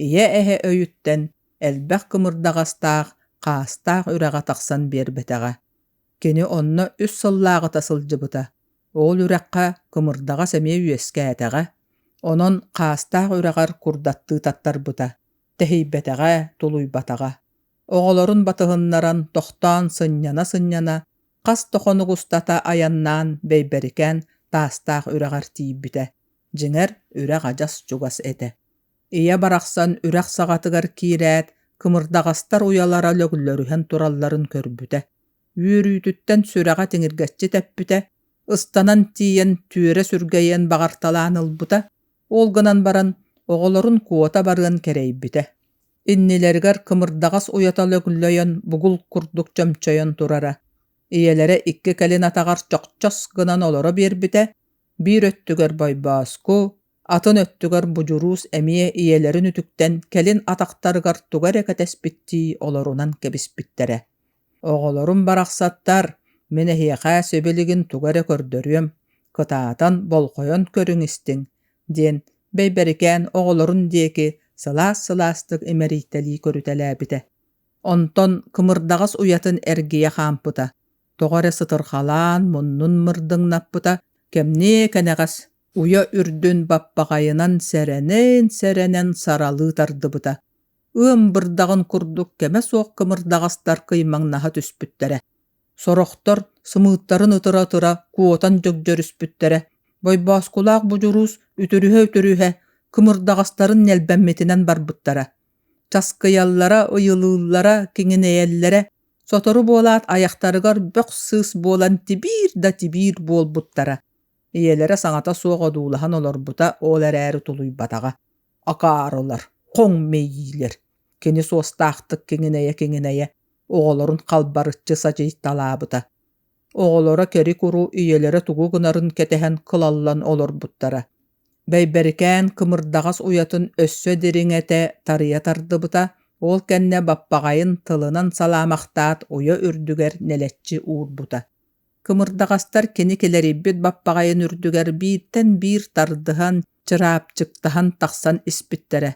ийэ-эһэ өйүттэн элбэх кымырдаҕастаах, хаастаах үрэҕэ тахсан биэрбэтэҕэ. Кини онно үс сыллааҕыта сылдьыбыта. Ол үрэххэ кымырдаҕас эмиэ үөскээтэҕэ. Онон хаастаах үрэҕэр курдаттыы таттарбыта. Тэһийбэтэҕэ, тулуйбатаҕа. Оҕолорун батыһыннаран тохтоон сынньана-сынньана хас да хонук устата айаннаан бэйбэрикээн таастаах үрэҕэр тиийбитэ. Дьиҥэр, үрэх адьас чугас этэ. ийэ барахсан үрэх саҕатыгар киирээт кымырдаҕастар уйалара лөглөрүһэн туралларын көрбүтэ үөрүүтүттэн сүрэҕэ тиҥиргэччи тэппитэ ыстанан тиийэн түөрэ сүргэйэн баҕарталаан ылбыта ол гынан баран оҕолорун куота барыан кэрэйбитэ иннилэригэр кымырдаҕас уйата лөглөйөн бугул курдук чөмчөйөн турара ийэлэрэ икки кэлин атаҕар чохчос гынан олоро биэрбитэ биир өттүгэр бойбооску атын өттүгэр будьуруус эмиэ ийэлэрин үтүктэн кэлин атахтарыгар туга эрэ кэтэспиттии олорунан кэбиспиттэрэ оҕолорум барахсаттар мин эһиэхэ сибилигин туга эрэ көрдөрүөм кытаатан болҕойон көрүҥ истиҥ диэн бэйбэрикээн оҕолорун диэки сылаас сылаастык имэрийтэлии көрүтэлээбитэ онтон кымырдаҕас уйатын эргийэ хаампыта тоҕо эрэ сытырхалаан муннун мырдыҥнаппыта кэмниэ кэнэҕэс уйа үрдүн баппаҕайынан сэрэнэн сэрэнэн саралыы тардыбыта ыам бырдаҕын курдук кэмэ суох кымырдаҕастар кыймаҥнаһа түспүттэрэ сорохтор сымыыттарын ытыра-ытыра куотан дьөгдьөрүспүттэрэ бойбооскулаах будьуруус үтүрүһэ-үтүрүһэ кымырдаҕастарын ньэлбэммитинэн барбыттара часкыйаллара ыйылыыллара киҥинэйэллэрэ сотору буолаат айахтарыгар бөх сыыс буолан тибиир да тибиир буолбуттара ийэлэрэ саҥата суох одуулаһан олорбута ол эрээри тулуйбатаҕа акаарылар хоҥ мэйиилэр кини суостаахтык киҥинэйэ-киҥинэйэ оҕолорун халбарыччы садьыйталаабыта оҕолоро кэри-куру ийэлэрэ тугу гынарын кэтэһэн кылаллан олорбуттара бэйбэрикээн кымырдаҕас уйатын өссө дириҥэтэ тарыйа тардыбыта ол кэннэ баппаҕайын тылынан салаамахтаат уйа үрдүгэр нэлэччи уурбута Кымырдаҕастар кини килэрийбит баппаҕайын үрдүгэр бииртэн биир тардыһан, чыраапчыктаһан тахсан испиттэрэ.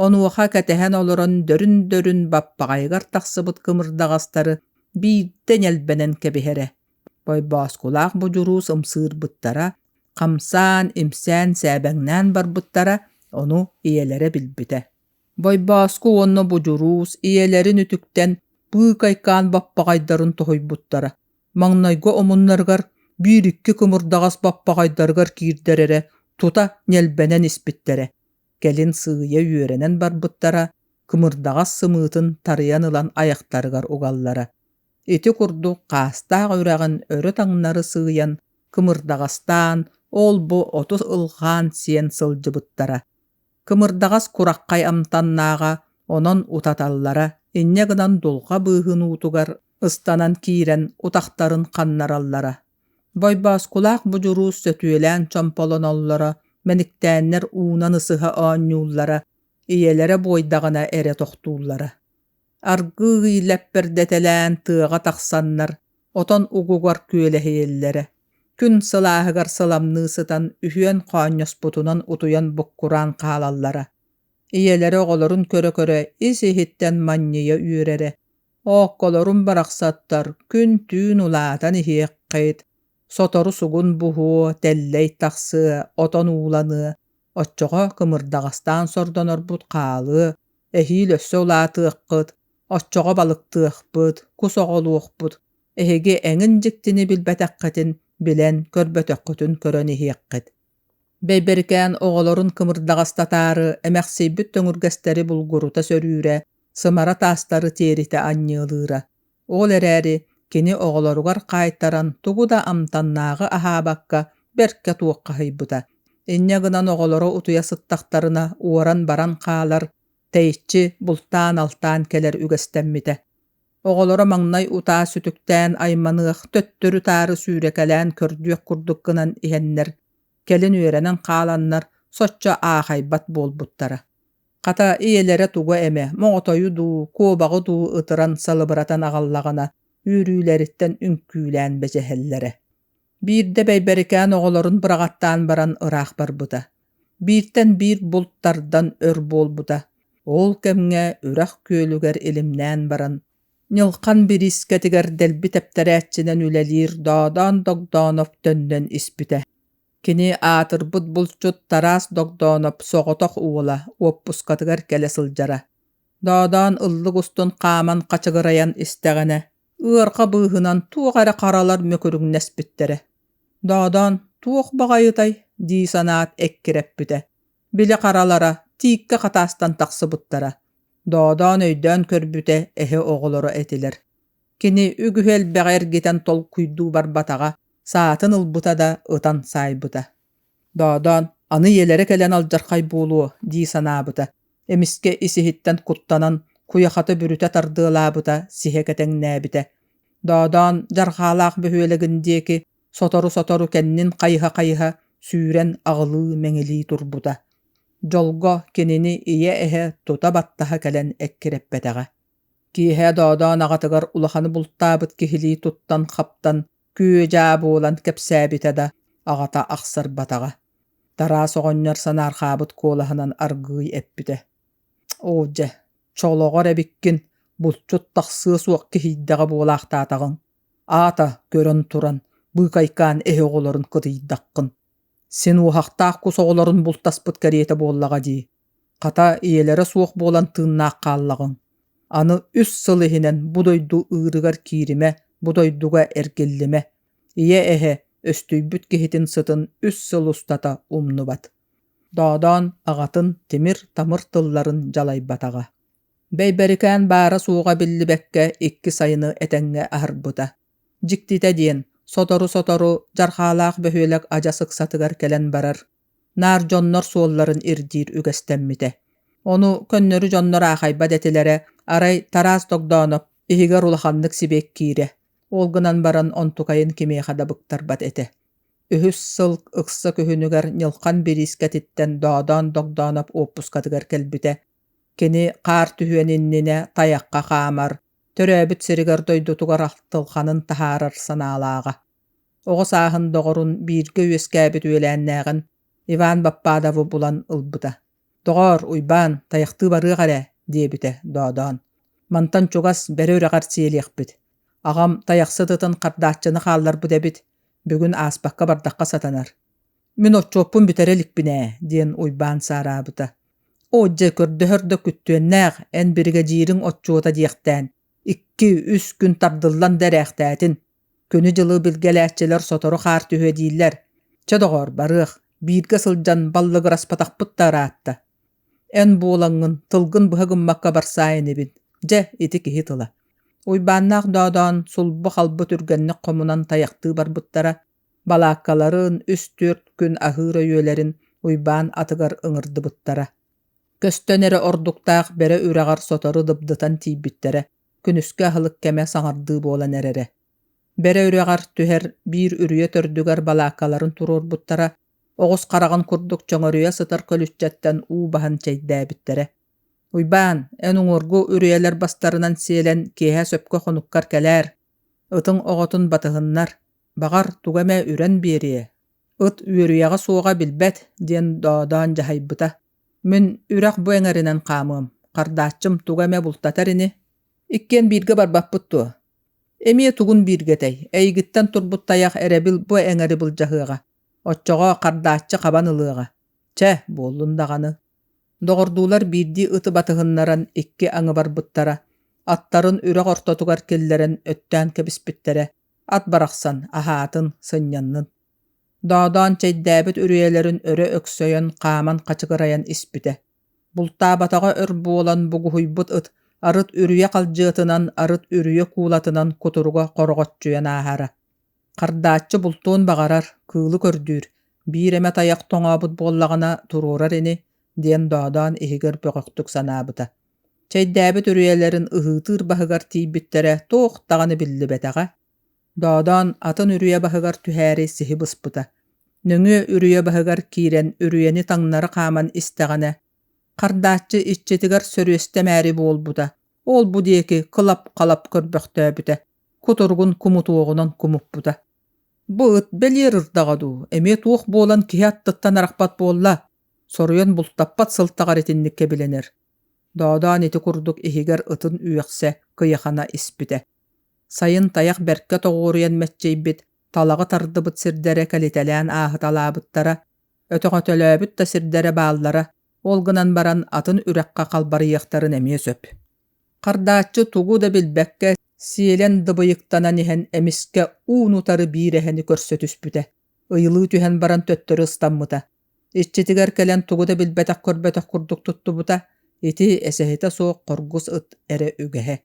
Онуоха кэтэһэн олорон дөрүн-дөрүн баппаҕайыгар тахсыбыт кымырдаҕастары биирдэ ньэлбэнэн кэбиһэрэ. Бойбооскулаах будьурус ымсыырбыттара, хамсаан, имсээн, сээбэҥнээн барбыттара, ону ийэлэрэ билбитэ. Байбааска уонна Будьуруус ийэлэрин үтүктэн быыкайкаан баппаҕайдарын тоһуйбуттара. Маҥнайгы омуннарыгар биир-икки кымырдаҕас баппаҕайдарыгар киирдэр эрэ тута ньэлбэнэн испиттэрэ. Кэлин сыыйа үөрэнэн барбыттара, кымырдаҕас сымыытын тарыйан ылан айахтарыгар угаллара. Ити курдук хаастаах үрэҕин өрө таҥнары сыыйан кымырдаҕастаан, ол-бу оту ылҕаан сиэн сылдьыбыттара. Кымырдаҕас кураххай амтаннааҕа, онон утаталлара, инньэ гынан дулҕа быыһын уутугар ыстанан киирэн утахтарын ханнараллара. Бойбооскулаах будьурус сөтүөлээн чомполоноллоро, мэниктээннэр уунан ысыһа оонньууллара, ийэлэрэ буойдаҕына эрэ тохтууллара. аргыый лэппэрдэтэлээн тыаҕа тахсаннар отон угугар күөлэһийэллэрэ күн сылааһыгар сыламныы сытан үһүөн хоонньоспутунан утуйан буккураан хаалаллара ийэлэрэ оҕолорун көрө-көрө ис-иһиттэн манньыйа үөрэрэ оокколорун барахсаттар күн-түүн улаатан иһиэххит сотору сугун буһуо тэллэй тахсыа отон ууланыа оччоҕо кымырдаҕастаан сордонорбут хаалыа Эһиил өссө улаатыаххыт, оччоҕо балыктыахпыт, кус оҕолуохпут. Эһиги эҥин дьиктини билбэтэххитин билэн, көрбөтөххүтүн көрөн иһиэххит. Бэйбэрикээн оҕолорун кымырдаҕастатаары, эмэхсийбит төҥүргэстэри булгурута сөрүүрэ, сымара таастары тиэритэ анньыалыыра. Ол эрээри кини оҕолоругар хаайтаран тугу да амтаннааҕы аһаабакка бэркэ туоххаһыйбыта. Инньэ гынан оҕолоро утуйа сыттахтарына уоран баран хаалар, тэйиччи бултаан-алтаан кэлэр үгэстэммитэ. Оҕолоро маҥнай утаа сүтүктээн айманыах, төттөрү-таары сүүрэкэлээн көрдүөх курдук гынан иһэннэр, кэлин үөрэнэн хааланнар соччо аахайбат буолбуттара. Хата, ийэлэрэ тугу эмэ, моҕотойу дуу, куобаҕы дуу ытыран салыбыратан аҕаллаҕына, үөрүүлэриттэн үҥкүүлээн бэчэһэллэрэ. Биирдэ Бэйбэрикээн оҕолорун быраҕаттаан баран ыраах барбыта. Бииртэн биир булт тардан өр буолбута. Ол кэмҥэ үрэх күөлүгэр илимнээн баран, Ньылхан бириискэтигэр дэлби тэптэрээччинэн үлэлиир Доодоон Догдооноп төннөн испитэ. Кини аатырбыт булчут Тараас Догдооноп соҕотох уола уоппускатыгар кэлэ сылдьара. Доодаан ыллык устун хааман хачыгырайан истэҕинэ, ыарха быыһынан туох эрэ харалар мөкүрүҥнэспиттэрэ. Доодаан «туох баҕайытай?» дии санаат эккирэппитэ. Били харалара тииккэ хатаастан тахсыбыттара. Доодаан өйдөөн көрбүтэ эһэ оҕолоро этилэр. Кини үгүһү элбэҕи эргитэн толкуйдуу барбатаҕа, саатын ылбыта да ытан саайбыта. Доодоон аны ийэлэрэ кэлэн алдьархай буолуо дии санаабыта, эмискэ исиһиттэн куттанан куйахата бүрүтэ тардыалаабыта сиһэ кэтэҥнээбитэ. Доодоон дьарҕаалаах бөһүөлэгин диэки сотору-сотору кэннин хайыһа-хайыһа сүүрэн аҕылыы-мэҥилии турбута. Дьолго кинини ийэ-эһэ тута баттаһа кэлэн эккирэппэтэҕэ. киэһэ доодоон аҕатыгар улаханы бултаабыт киһилии туттан-хаптан күө-дьаа буолан кэпсээбитэ да аҕата ахсарбатаҕа тараас оҕонньор санаархаабыт куолаһынан аргыый эппитэ оо дьэ чолоҕор эбиккин булчут тахсыа суох киһийдэҕэ буолаахтаатаҕыҥ аата көрөн туран быыкайкаан эһэ оҕолорун кытыйдаххын син уоһахтаах кус оҕолорун бултаспыт кэриэтэ буоллаҕа дии Хата, ийэлэрэ суох буолан тыыннаах хааллаҕыҥ, аны үс сыл иһинэн бу дойду ыырыгар кииримэ, бу дойдуга эргиллимэ, ийэ-эһэ, өстүйбүт киһитин сытын үс сыл устата умнубат. Доодоон аҕатын тимир-тамыр тылларын дьалайбатаҕа. Бэйбэрикээн баара-суоҕа биллибэккэ икки сайыны этэҥҥэ аһарбыта. Дьиктитэ диэн, сотору-сотору Дьархаалаах бөһүөлэк адьас ыксатыгар кэлэн барар, наар дьоннор суолларын ирдиир үгэстэммитэ ону көннөрү дьоннор аахайбат этилэрэ арай тараас тогдооноп иһигэр улаханнык сибиэккиирэ ол гынан баран онтукайын кимиэхэ да быктарбат этэ үһүс сыл ыкса күһүнүгэр ньылхан бириискэтиттэн доодоон догдооноп уоппускатыгар кэлбитэ кини хаар түһүөн иннинэ тайахха хаамар төрөөбүт сиригэр дойдутугар ахтылҕанын таһаарар санаалааҕа оҕо сааһын доҕорун бииргэ үөскээбит үөлээннээҕин Иван Баппадову булан ылбыта. «Доҕоор, Уйбаан, тайахтыы барыах эрэ» диэбитэ доодоон. «Мантан чугас бэрэ үрэҕэр сиэлиэхпит. Аҕам тайахсыт ытын хардааччыны хаалларбыт эбит, бүгүн ааспакка бардахха сатанар. Мин отчуоппун бүтэрэ иликпин ээ» диэн Уйбаан саараабыта. «Оо дьэ, көрдөһөр да күттүөннээх, эн биригэдьиириҥ отчуота диэхтээн, икки, үс күн тардыллан да эрээхтээтин, Күнү-дьылы билгэлээччилэр сотору хаар түһүө дииллэр. Чэ доҕоор, барыах, бииргэ сылдьан баллыгыраспатахпыт да ыраатта. Эн буолаҥҥын, тылгын быһа гыммакка барсаай инибин. Дьэ, ити киһи тыла. Уйбааннаах Доодоон сулбу-халбы түргэнник хомунан тайахтыы барбыттара, балааккаларын үс-түөрт күн аһыыр өйүөлэрин Уйбаан атыгар ыҥырдыбыттара. Көстөн эрэ ордуктаах бэрэ үрэҕэр сотору дыбдытан тиийбиттэрэ, күнүскү аһылык кэмэ саҥардыы буолан эрэрэ бэрэ үрэҕэр түһэр биир үрүйэ төрдүгэр балааккаларын туруорбуттара оҕус хараҕын курдук чөҥөрүйэ сытар көлүччэттэн уу баһан чэйдээбиттэрэ уйбаан эн уҥуоргу үрүйэлэр бастарынан сиэлэн киэһэ сөпкө хонуккар кэлээр ытың оҕотун батыһыннар баҕар туга эмэ үрэн биэриэ ыт үөрүйэҕэ суоҕа билбэт диэн доодоон дьаһайбыта Мин үрэх бу эҥэринэн хаамыам, хардааччым туга эмэ бултатар ини, иккиэн бииргэ барбаппыт дуо? Эмиэ тугун бииргэ этэй, эйигиттэн турбут тайах эрэбил бу эҥэри былдьаһыаҕа, оччоҕо хардааччы хабан ылыаҕа. Чэ, буоллун даҕаны. Доҕордуулар биирдии ыты батыһыннаран икки аҥыбарбыттара, аттарын үрэх ортотугар киллэрэн өттөөн кэбиспиттэрэ, ат барахсан аһаатын, сынньаннын. Доодоон чэйдээбит үрүйэлэрин өрө өксөйөн хааман хачыгырайан испитэ. Бултаабатаҕа өр буолан бугуһуйбут ыт арыт үрүйэ халдьыатынан арыт үрүйэ куулатынан кутуруга хороҕоччуйан ааһара. Хардааччы бултуон баҕарар, кыылы көрдүүр, биир эмэ тайах тоҥообут буоллаҕына туруорар ини, диэн Доодоон иһигэр бөҕөхтүк санаабыта. Чэйдээбит үрүйэлэрин ыһыытыыр баһыгар тиийбиттэрэ туох даҕаны биллибэтэҕэ, Доодоон атын үрүйэ баһыгар түһээри сиһи быспыта. Нөҥүө үрүйэ баһыгар киирэн үрүйэни таҥнары хааман истэҕинэ, хардааччы иччитигэр сөрүөстэмээри буолбута, ол-бу диэки кылап-халап көрбөхтөөбүтэ, кутуругун кумутуоҕунан кумуппута. «Бу ыт бэлиэр ырдаҕа дуу, эмиэ туох буолан киһи аттыттан арахпат буолла?» соруйан бултаппат сылтаҕар итинник кэбилэнэр. Доодоон ити курдук иһигэр ытын үөхсэ, кыйахана испитэ. Сайын тайах бэркэ тоҕуоруйан мэччийбит, талаҕы тардыбыт сирдэрэ кэлитэлээн ааһыталаабыттара, өтөҕөтөлөөбүт да сирдэрэ бааллара, ол гынан баран атын үрэххэ халбарыйыахтарын эмиэ сөп. Хардааччы тугу да билбэккэ, сиэлэн дыбыйыктанан иһэн эмискэ уун-утары биир эһэни көрсө түспүтэ, ыйылыы түһэн баран төттөрү ыстаммыта. Иччитигэр кэлэн тугу да билбэтэх-көрбөтөх курдук туттубута, ити эсэһитэ суох хоргус ыт эрэ үгэһэ.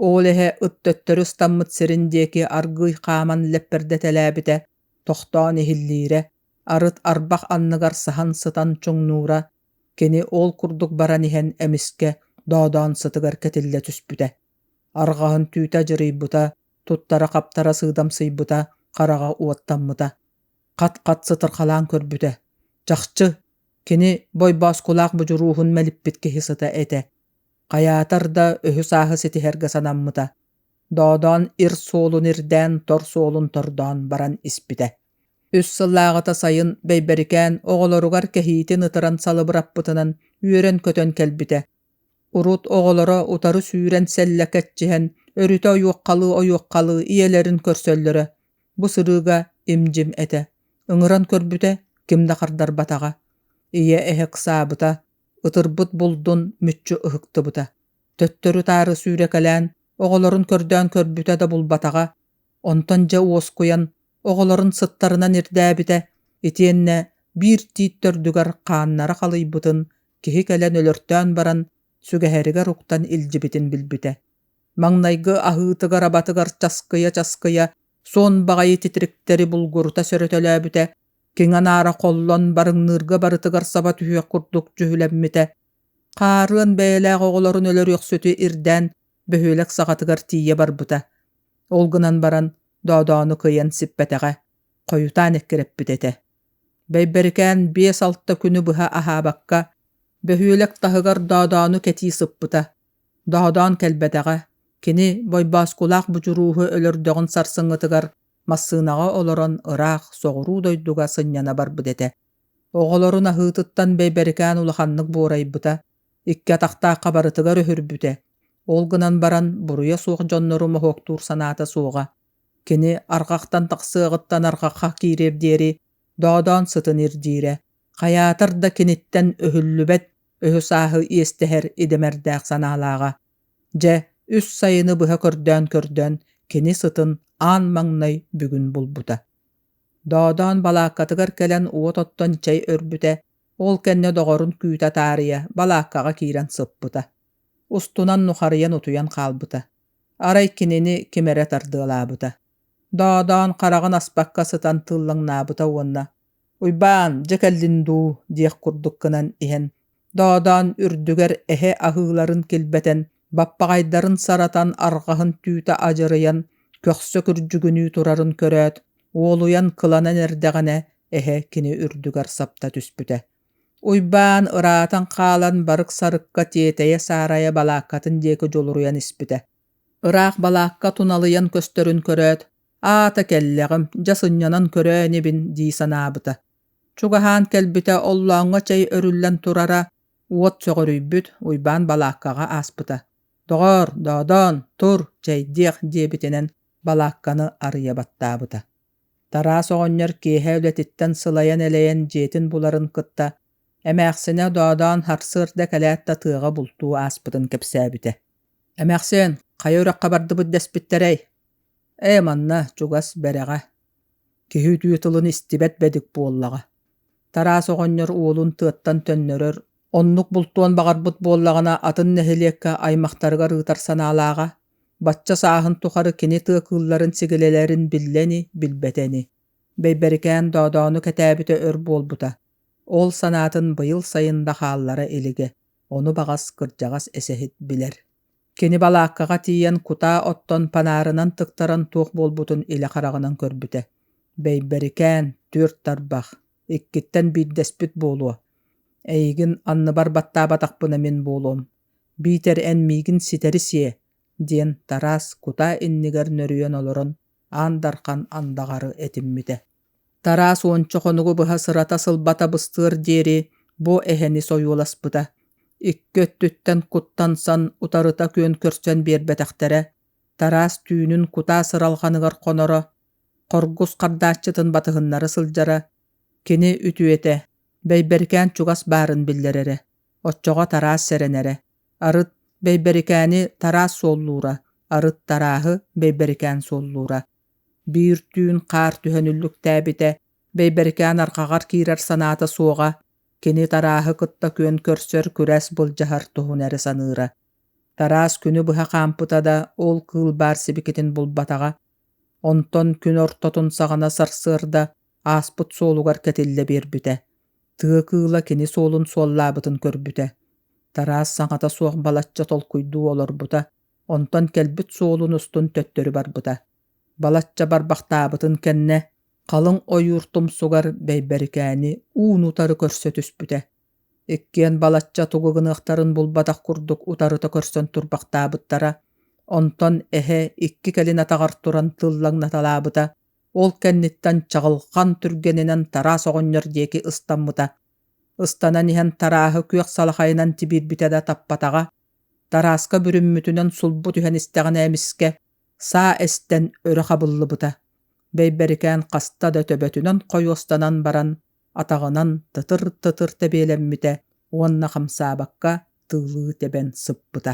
Ол иһэ ыттөттөрү ыстаммыт сирин диэки аргыый хааман лэппэрдэтэлээбитэ, тохтоон иһиллиирэ, арыт арбах анныгар саһан сытан чуҥнуура, кини ол курдук баран иһэн эмискэ доодаон сытыгар кэтиллэ түспүтэ. Арҕаһын түүтэ дьырыйбыта, туттара-хаптара сыыдамсыйбыта, хараҕа уоттаммыта. Хат-хат сытырхалаан көрбүтэ. Чахчы, кини Бойбооскулаах будьурууһун мэлиппит киһи сыта этэ. Хайаатар да үһү сааһы ситиһэргэ санаммыта, Доодоон ир суолун ирдээн тор суолун тордоон баран испитэ. Үс сыллааҕыта сайын Бэйбэрикээн оҕолоругар кэһиитин ытыран салыбыраппытынан үөрэн-көтөн кэлбитэ. Урут оҕолоро утары сүүрэн сэллэ кэччиһэн, өрүтэ ойуоххалыы-ойуоххалыы ийэлэрин көрсөллөрө. Бу сырыыга им-дьим этэ. Ыҥыран көрбүтэ, ким да хардарбатаҕа. Ийэ эһэ ыксаабыта, ытырбыт булдун мүччү ыһыктыбыта төттөрү-таары сүүрэкэлээн оҕолорун көрдөөн көрбүтэ да булбатаҕа онтон дьэ уоскуйан оҕолорун сыттарынан ирдээбитэ итиэннэ биир тиит төрдүгэр хааннара халыйбытын киһи кэлэн өлөртөөн баран сүгэһэригэр уктан илдьибитин билбитэ маҥнайгы аһыытыгар-абатыгар часкыйа-часкыйа суон баҕайы титириктэри булгурута сөрөтөлөөбүтэ киҥ анаара холлон барыҥныырга барытыгар саба түһүөх курдук дьүһүлэммитэ хаарыан бэйэлээх оҕолорун өлөрүөхсүтү ирдээн бөһүөлэк саҕатыгар тиийэ барбыта ол гынан баран доодоону кыйан сиппэтэҕэ хойутаан эккирэппит этэ бэйбэрикээн биэс-алта күнү быһа аһаабакка бөһүөлэк таһыгар доодоону кэтии сыппыта доодоон кэлбэтэҕэ кини бойбооскулаах будьурууһу өлөрдөҕүн сарсыҥҥытыгар Массыынаҕа олорон ыраах, соҕуруу дойдуга сынньана барбыт этэ. Оҕолорун аһыытыттан бэйбэрикээн улаханнык буорайбыта, икки атахтаахха барытыгар өһүрбүтэ. Ол гынан баран буруйа суох дьоннору моһуоктуур санаата суоҕа. Кини арҕахтан тахсыаҕыттан арҕахха киириэр диэри доодоон сытын ирдиирэ. Хайаатар да киниттэн өһүллүбэт өһү-сааһы иэстэһэр идэмэрдээх санаалааҕа. дьэ үс сайыны быһа көрдөөн-көрдөөн кини сытын аан маҥнай бүгүн булбута доодоон балааккатыгар кэлэн уот оттон чэй өрбүтэ ол кэннэ доҕорун күүтэ таарыйа балааккаҕа киирэн сыппыта устунан нухарыйан утуйан хаалбыта арай кинини ким эрэ тардыалаабыта доодоон хараҕын аспакка сытан тыллаҥнаабыта уонна Уйбаан, дьэ кэллин дуу, диэх курдук гынан иһэн, доодаан үрдүгэр эһэ аһыыларын килбэтэн, баппаҕайдарын саратан арҕаһын түүтэ адьырыйан, көхсө күрдьүгүнүү турарын көрөөт, уолуйан кыланан эрдэҕинэ, эһэ кини үрдүгэр сапта түспүтэ. Уйбаан ыраатан хаалан барык сарыкка тиэтэйэ-саарайа балааккатын диэки дьулуруйан испитэ. Ыраах балаакка туналыйан көстөрүн көрөөт, Аата кэллэҕим, дьэ сынньанан көрөөн ибин дии санаабыта. Чугаһаан кэлбитэ оллооҥҥо чэй өрүллэн турара, уот сөҕүрүйбүт, Уйбаан балааккаҕа ааспыта. «Доҕоор, Доодоон, тур, чэйдиэх» диэбитинэн балаакканы арыйа баттаабыта. Тараас оҕонньор киэһэ үлэтиттэн сылайан-элэйэн дьиэтин буларын кытта, эмээхсинэ Доодоон сарсыарда кэлээт да тыаҕа бултуу ааспытын кэпсээбитэ. «Эмээхсин, хайа үрэххэ бардыбыт дэспиттэрэй?» Ээ, манна чугас бэрэҕэ, киһи үтүө тылын истибэт бэдик буоллаҕа. Тараас оҕонньор уолун тыаттан төннөрөр оннук бултуон баҕарбыт буоллаҕына атын нэһилиэккэ аймахтарыгар ыытар санаалааҕа, бачча сааһын тухары кини тыа кыылларын сигилэлэрин биллэ ини, билбэтэ ини. Бэйбэрикээн Доодоону кэтээбитэ өр буолбута. Ол санаатын быйыл сайын да хааллара илигэ, ону баҕас кырдьаҕас эсэһит билэр Кини балааккаҕа тиийэн кутаа оттон панаарынан тыктаран туох буолбутун илэ хараҕынан көрбүтэ. Бэйбэрикээн, түөрт тарбах, иккиттэн биирдэспит буолуо. Эйигин анныбар баттаабатахпына мин буолуом. Биитэр эн миигин ситэри сиэ, диэн Тараас кутаа иннигэр нөрүйэн олорон аан дархан андаҕары этиммитэ. Тараас уонча хонугу быһа сырата сылбата быстыар диэри бу эһэни сойуоласпыта, икки өттүттэн куттан сан утарыта күөн көрсөн биэрбэтэхтэрэ, Тараас түүнүн кутаа сыралҕаныгар хоноро, хоргус хардааччытын батыһыннара сылдьара, кини үтүөтэ, Бэйбэрикээн чугас баарын биллэрэрэ, оччоҕо Тараас сэрэнэрэ, арыт Бэйбэрикээни Тараас суоллуура, арыт Тарааһы Бэйбэрикээн суоллуура. биир түүн хаар түһэн үллүктээбитэ бэйбэрикээн арҕаҕар киирэр санаата суоҕа кини тарааһы кытта күөн көрсөр күрэс былдьаһар туһун эрэ саныыра тараас күнү быһа хаампыта да ол кыыл баар сибикитин булбатаҕа онтон күн ортотун саҕана сарсыарда ааспыт суолугар кэтиллэ биэрбитэ тыа кыыла кини суолун суоллаабытын көрбүтэ тараас саҥата суох балачча толкуйдуу олорбута Онтон кэлбит суолун устун төттөрү барбыта. Балачча барбахтаабытын кэннэ, халыҥ ойуур тумсугар Бэйбэрикээни уун-утары көрсө түспүтэ. Иккиэн балачча тугу гыныахтарын булбатах курдук утарыта көрсөн турбахтаабыттара. Онтон эһэ икки кэлин атаҕар туран тыллаҥнаталаабыта, ол кэнниттэн чаҕылҕан түргэнинэн тараас оҕонньор диэки ыстаммыта. Ыстанан иһэн тарааһы күөх салахайынан тибирбитэ да таппатаҕа, Тарааска бүрүммүтүнэн сулбу түһэн истэҕинэ эмискэ саа эстэн өрө хабыллыбыта. Бэйбэрикээн хаста да төбөтүнэн хойуостанан баран, атаҕынан тытыр-тытыр тэбиэлэммитэ уонна хамсаабакка тыылыы тэбэн сыппыта.